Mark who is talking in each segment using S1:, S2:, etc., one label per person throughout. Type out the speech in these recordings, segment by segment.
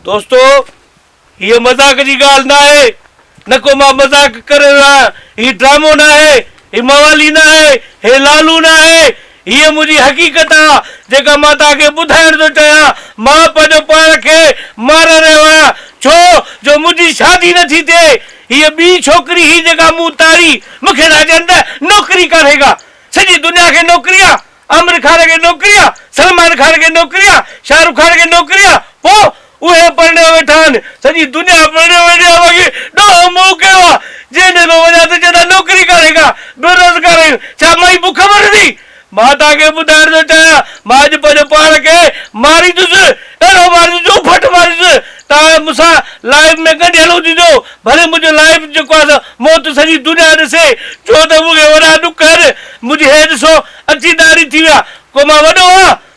S1: دوستو هي مذاق جي ڳالهه نه آهي نه ڪو مان مذاق ڪري رهيو آهيان هي ڊرامو نه آهي هي موالي نه آهي هي لالو نه آهي هي منهنجي حقيقت آهي جيڪا مان توهان کي ٻڌائڻ ٿو چاهيان مان پنهنجو پاڻ کي ماري رهيو آهيان ڇو جو منهنجي شادي نٿي ٿئي هيء ٻي ڇوڪري هئي جيڪا مون تاڙي، مون کي ٿا چين ته نوڪري ڪانهي ڪا، سڄي دنيا کي نوڪري آ، عامر خان کي نوڪري آ، سلمان خان کي نوڪري آ، شاهه رخ خان کي نوڪري آ، پوء اهي پرڻيو ويٺا آهن، سڄي دنيا پرڻيو ويٺي آ، باقي ڏوهه مون ڪيو آ، جنهن ڏي به وڃان ته چئن ٿا نوڪري ڪانهي ڪا، بيروزگار آهيون، ڇا مائي بک مرندي؟ مان توهان کي ٻڌائڻ ٿو چاهيان، مان اڄ پنهنجو پاڻ کي ماريندس، اهڙو ماريندس جو ڦٽ ماريندس، توهان مون سان لائيو ۾ ڳنڍيل هججو، ڀلي منهنجو لائيو جيڪو آهي سو موت سڄي دنيا ڏسي، ڇو ته مون کي وڏا ڏک آهن، منهنجي هي ڏسو اڇي ڏاڙهي ٿي ويا، ڪو مان وڏو آهيان؟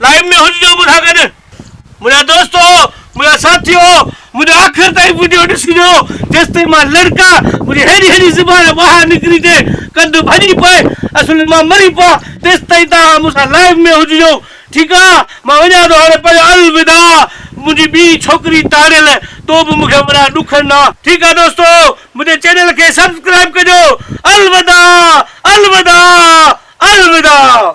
S1: لائيو ۾ هججو مون سان گڏ منهنجا دوستو منهنجا ساٿيو منهنجو آخر تائين وڊيو ڏسجو جيستائين مان لڙڪا منهنجي ههڙي ههڙي زبان ٻاهر نڪري ٿي ڪنڌ ڀڄي پئي اصل مان مري پئا تيستائين توهان مون سان لائيو ۾ هججو ٺيڪ آ مان وڃان ٿو هاڻي پنهنجو الوداع منهنجي ٻي ڇوڪري تاڙيل تو به مون کي وڏا ڏک ڏنا ٺيڪ آ دوستو منهنجي چينل کي سبسڪرائيب ڪجو الوداع الوداع الوداع.